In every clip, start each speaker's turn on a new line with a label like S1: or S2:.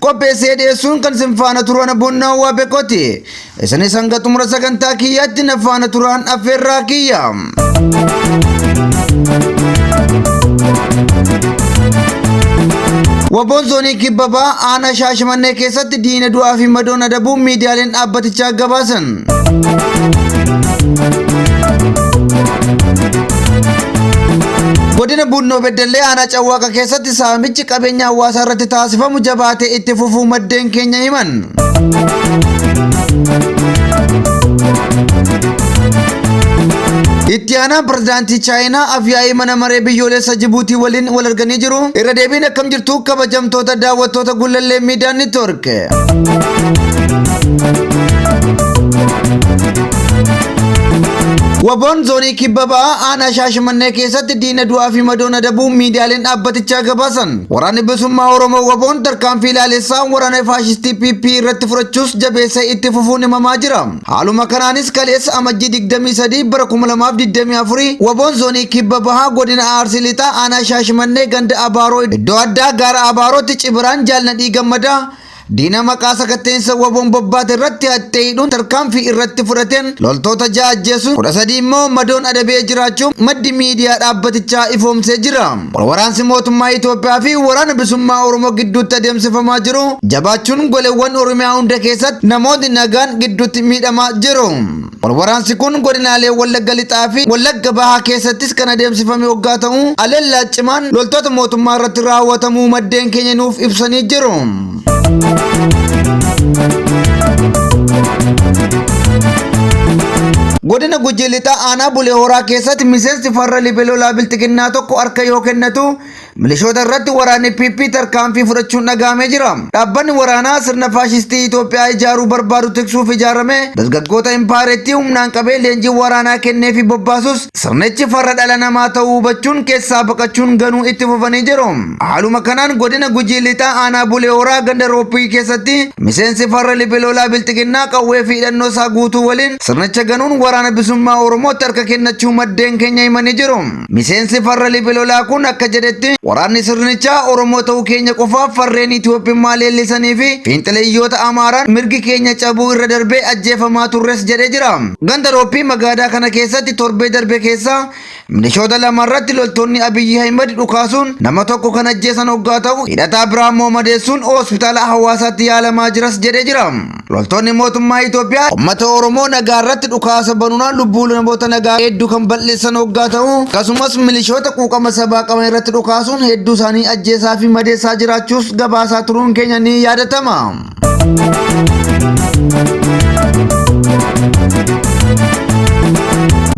S1: qopheessee dhiyeessuun kan isin faana turan bunnaa waa beekoti isinis hanga xumura sagantaa kiyyaatti na faana turaan affeerraa kiyya. Waboon zoonii kibbabaa aanaa shaashamannee keessatti diina du'aa fi madoon adabuun miidiyaaleen dhaabbatichaa gabaasan. Godina Buunnoo Beddellee aanaa Cawwaaqa keessatti Saamichi qabeenya hawaasaa irratti taasifamu jabaatee itti fufuu maddeen keenya himan. Itti aanaan pirezidaantii Chaayinaa afyaa'ii mana maree biyyoolessa Jibuutii waliin wal arganii jiru. Irra deebiin akkam jirtu kabajamtoota daawwattoota gullallee miidiyaa niitoork. Waboon zoonii kibba ba'aa aanaa shaashimannee keessatti diina du'aa fi madoon adabuu miidiyaaleen dhaabbatichaa gabaasan. Waraanni bilisummaa Oromoo waboon tarkaanfii ilaalessaa waraana faashistii PP irratti fudhachuus jabeessee itti fufuun himamaa jira. Haaluma kanaanis kaleessa amajjii 23 bara 2024 waboon zoonii kibba bahaa godina Arsii Lixaa aanaa Shaashimannee ganda Abaaroo iddoo addaa gaara Abaarootti cibiraan jaalnadhii gammadaa Diina maqaa sakatteensa waboon bobbaate irratti haxxee hidhuun tarkaanfii irratti fudhateen loltoota ja'a ajjeesuun kudha sadii immoo madoon adabee jiraachuu maddi miidiyaa dhaabbatichaa ifoomsee jira. Walwaraansi mootummaa Itoophiyaa fi waraana bisummaa Oromoo gidduutti adeemsifamaa jiru jabaachuun goleewwan Oromiyaa hunda keessatti namootni nagaan gidduutti miidhamaa jiru. Walwaraansi kun godinaalee Wallagga Lixaa fi Wallagga Bahaa keessattis kan adeemsifame hoggaa ta'u, haleellaa cimaan loltoota mootummaa irratti raawwatamuu maddeen keenya nuuf ibsanii jiru. Godina Gujii Lixaa aanaa Bulee Horaa keessatti miseensi farra libelolaa bilxiginnaa tokko harka yoo kennatu Milishoota irratti waraanni PP tarkaanfii fudhachuun dhagahamee jira. Dhaabbanni waraanaa sirna faashistii Itoophiyaa ijaaruu barbaadu tiksuuf ijaarame dargaggoota impaayerettii humnaan qabee leenjii waraanaa kennee fi bobbaasus sirnichi farra dhala namaa ta'uu hubachuun keessaa baqachuun ganuu itti fufanii jiru. Haaluma kanaan godina Gujii Lixaa aanaa Bulee Horaa ganda Rooppii keessatti miseensi farra libilolaa bilxiginnaa qawwee fi hidhannoo isaa guutuu waliin sirnicha ganuun waraana bisummaa Oromootti harka kennachuu maddeen keenya himanii jiru. Miseensi farra Libi Lolaa kun akka jedhetti waraanni sirnichaa Oromoo ta'uu keenya qofaaf farreen Itoophummaa leellisanii fi fiinxileyyoota Amaaraan mirgi keenya cabuu irra darbee ajjeefamaa turres jedhee jira. Ganda Roophii Magaadaa kana keessatti torbee darbe keessa milishoota lama irratti loltoonni Abiyyi Ahimad dhukaasuun nama tokko kan ajjeesan oggaa ta'u hidhataa biraa immoo madeessuun hospitaala Hawaasaatti yaalamaa jiras jedhee jira. Loltoonni mootummaa Itoophiyaa uummata Oromoo nagaa irratti dhukaasa banuunaan lubbuu namoota nagaa hedduu kan bal'eessan hoggaa ta'u akkasumas milishoota quuqama sabaa qaban irratti dhukaasuun hedduu isaanii ajjeesaa fi madeessaa jiraachuus gabaasaa turuun keenya ni yaadatama.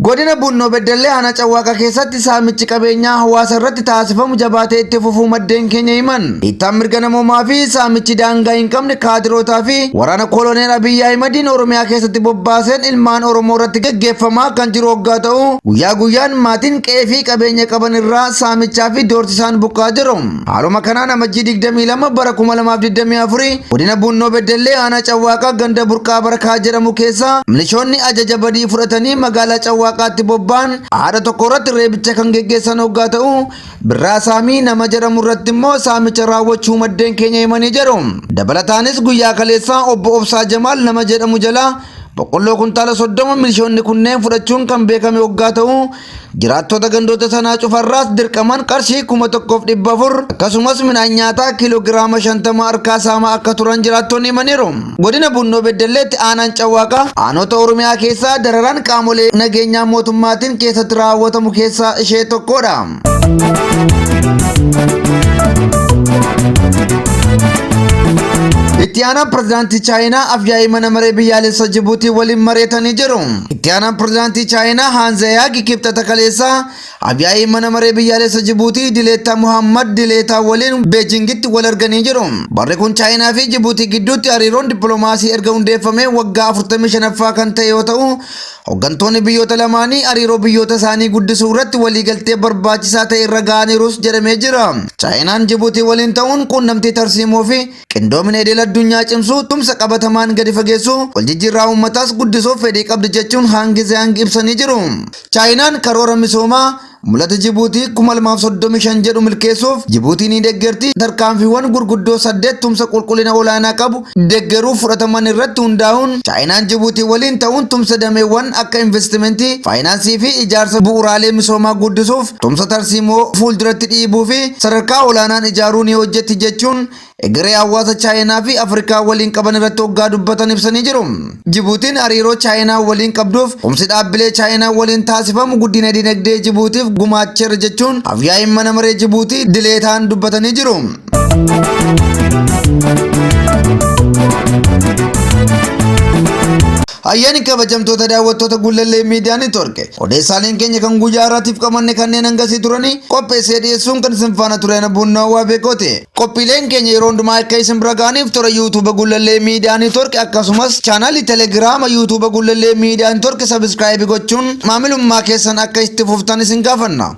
S1: Godina Bunnoo Beddellee Aanaa Cawwaaqaa keessatti saamichi qabeenyaa hawaasa irratti taasifamu jabaatee itti fufuu maddeen keenya himan. dhiittaan mirga namoomaa fi saamichi daangaa hin qabne kaadirootaa fi waraana koloneel Abiyyi Ahimadiin Oromiyaa keessatti bobbaaseen ilmaan Oromoo irratti geggeeffamaa kan jiru hoggaa ta'u guyyaa guyyaan maatiin qe'ee fi qabeenya qaban irraa saamichaa fi doorsisaan buqqaa jiru. Haaluma kanaan amajjii 22 bara 2024 godina Buunnoo Beddellee aanaa Cawwaaqaa ganda Burqaa Barakaa jedhamu keessaa milishoonni ajaja badii fudhatanii magaalaa Cawwaaqaatti bobba'an haadha tokko irratti reebicha kan geggeessan hoggaa ta'u Birraa Saamii nama jedhamu irratti immoo saamicha raawwachuu maddeen keenya himanii jiru. Dabalataanis guyyaa kaleessaa obbo Obsaa Jamaal nama jedhamu jalaa boqqolloo kuntaala soddoma milishoonni kunneen fudhachuun kan beekame waggaa ta'u jiraattota gandoota sanaa cufarraas dirqaman qarshii kuma tokkoof dhibba afur akkasumas midhaan nyaataa kiiloo giraama shantama harkaa saamaa akka turan jiraattonni himaniiru. Godina Bunnoo Beddelleetti aanaan Cawwaaqaa aanota Oromiyaa keessaa dararaan qaamolee nageenyaa mootummaatiin keessatti raawwatamu keessaa ishee tokkodha. Itti aanaan pirezidaantii Chaayinaa afyaa'ii mana maree biyyaalessa Jibuutii waliin mari'atanii jiru. Itti aanaan pirezidaantii Chaayinaa Haanzayaagi kibxata kaleessaa Afyaa'iin mana maree biyyaalessa Jibuutii Dileetaa Muhammad Dileetaa waliin Beejingitti wal arganii jiru. Barri kun Chaayinaa fi Jibuutii gidduutti hariiroon dippiloomaasii erga hundeeffamee waggaa 45ffaa kan ta'e yoo ta'u, hoggantoonni biyyoota lamaanii hariiroo biyyoota isaanii guddisuu irratti waliigaltee barbaachisaa ta'e irra ga'aniirus jedhamee jira. Chaayinaan Jibuutii waliin ta'uun quunnamtii tarsiimoo fi Qindoomina idil addunyaa cimsuu, tumsa qabatamaan gadi fageessuu, waljijjiirraa uummataas guddisuuf fedhii qabdi jechuun Haangi Ziyaang ibsanii jiru. Chaayinaan karoora misoomaa Mul'ata Jibuutii 2035 jedhu milkeessuuf Jibuutii ni deggerti, tarkaanfiiwwan gurguddoo saddeet tumsa qulqullina olaanaa qabu deggeruuf fudhataman irratti hundaa'uun Chaayinaan Jibuutii waliin ta'uun tumsa dameewwan akka investimentii, faayinaansii fi ijaarsa bu'uuraalee misoomaa guddisuuf tumsa tarsiimoo fuulduratti dhiibuu fi sadarkaa olaanaan ijaaruu ni hojjetti jechuun egeree hawaasa Chaayinaa fi Afrikaa waliin qaban irratti hoggaa dubbatan ibsanii jiru. Jibuutiin hariiroo Chaayinaa waliin qabduuf tumsi dhaabbilee Chaayinaa waliin taasifamu guddina dinagdee Jibuutiif gumaacheera jechuun afyaa'iin mana maree Jibuutii dileetaan dubbatanii jiru. Hayyeen kabajamtoota daawwattoota Gullallee Miidiyaa Neetwork odeessaaleen keenya kan guyyaa har'aatiif qabanne kanneen hangasii turanii qopheessee dhiyeessuun kan isin faana ture ana buunnoo waa beekooti. Qophiileen keenya yeroo hundumaa akka isin bira ga'aniif toora yuutuuba Gullallee Miidiyaa Neetwork akkasumas chaanaalii Telegiraama yuutuuba Gullallee Miidiyaa Neetwork sabiskiraayibii gochuun maamilummaa keessan akka itti fuftan isin gaafanna.